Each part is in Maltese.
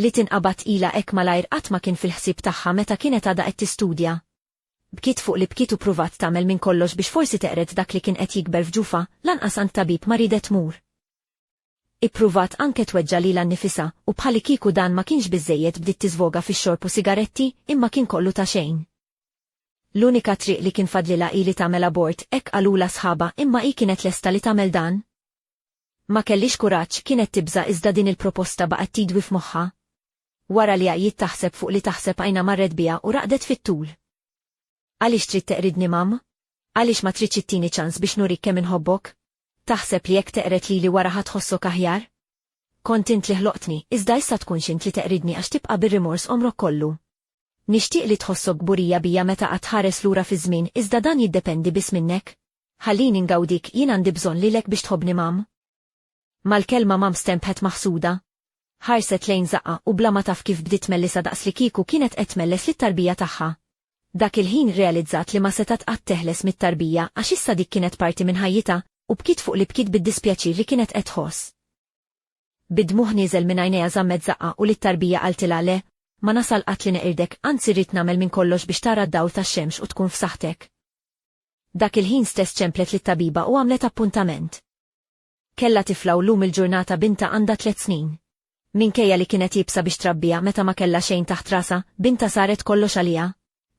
li tinqabad tqila hekk malajr qatt ma kien fil-ħsieb tagħha meta kienet għadha qed tistudja. Bkiet fuq li bkiet u pruvat tagħmel minn kollox biex forsi teqred dak li kien qed jikber f'ġufha, lanqas għand tabib ma riedet tmur. Ippruvat anke tweġġa' lilha nnifisha, u bħalikieku dan ma kienx biżżejjed bdiet tiżvoga fix-xorb u sigaretti, imma kien kollu ta' xejn. L-unika triq li kien fadlilha hi li tagħmel abort, hekk qalulha sħabha, imma hi kienet lesta li tagħmel dan? Ma kellix kuraġġ, kienet tibża' iżda din il-proposta baqgħet tidwi f'moħħha. Wara li għajjiet taħseb fuq li taħseb għajnha marret biha u raqdet fit-tul. Għaliex trid teqridni mamm? Għaliex ma tridx ittini ċans biex nurik kemm inħobbok? Taħseb li jekk teqret lili wara ħadd ħossok aħjar? Kont int li ħloqtni, iżda issa tkun xint li teqridni għax tibqa' bir-rimors omrok kollu. Nixtieq li tħossok gburija bija meta qatt ħares lura fiż-żmien, iżda dan jiddependi biss minnek. Ħallini ngawdik jien għandi bżonn lilek biex tħobbni mam. Mal-kelma mam stempħet maħsuda. Ħarset lejn zaqqa u bla ma taf kif bdiet mellisa daqs li kieku kienet qed melles lit-tarbija tagħha. Dak il-ħin realizzat li ma setat qatt teħles mit-tarbija għax issa dik kienet parti minn ħajjita u bkiet fuq li bkiet bid-dispjaċir li kienet qed tħoss. Bidmuħ nieżel minn għajnejha żammet zaqqa u lit-tarbija qaltilha le, ma nasal qatt li neqirdek, anzi rrid nagħmel minn kollox biex tara d-dawl tax-xemx u tkun f'saħħtek. Dak il-ħin stess ċemplet lit tabiba u għamlet appuntament. Kella tifla u lum il-ġurnata binta għandha tliet snin. Minkejja li kienet jibsa biex trabbija meta ma kella xejn taħt rasa, binta saret kollox għalija.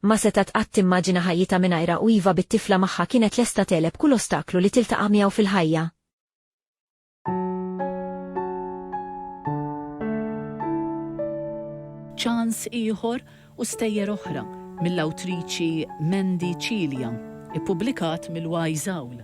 Ma seta tqatt timmaġina ħajjita minajra u iva bit-tifla magħha kienet lesta teleb kull ostaklu li tiltaqa' miegħu fil-ħajja. Ċans ieħor u stejjer oħra mill-awtriċi Mandy Cilia, ippubblikat mill-Wise Owl.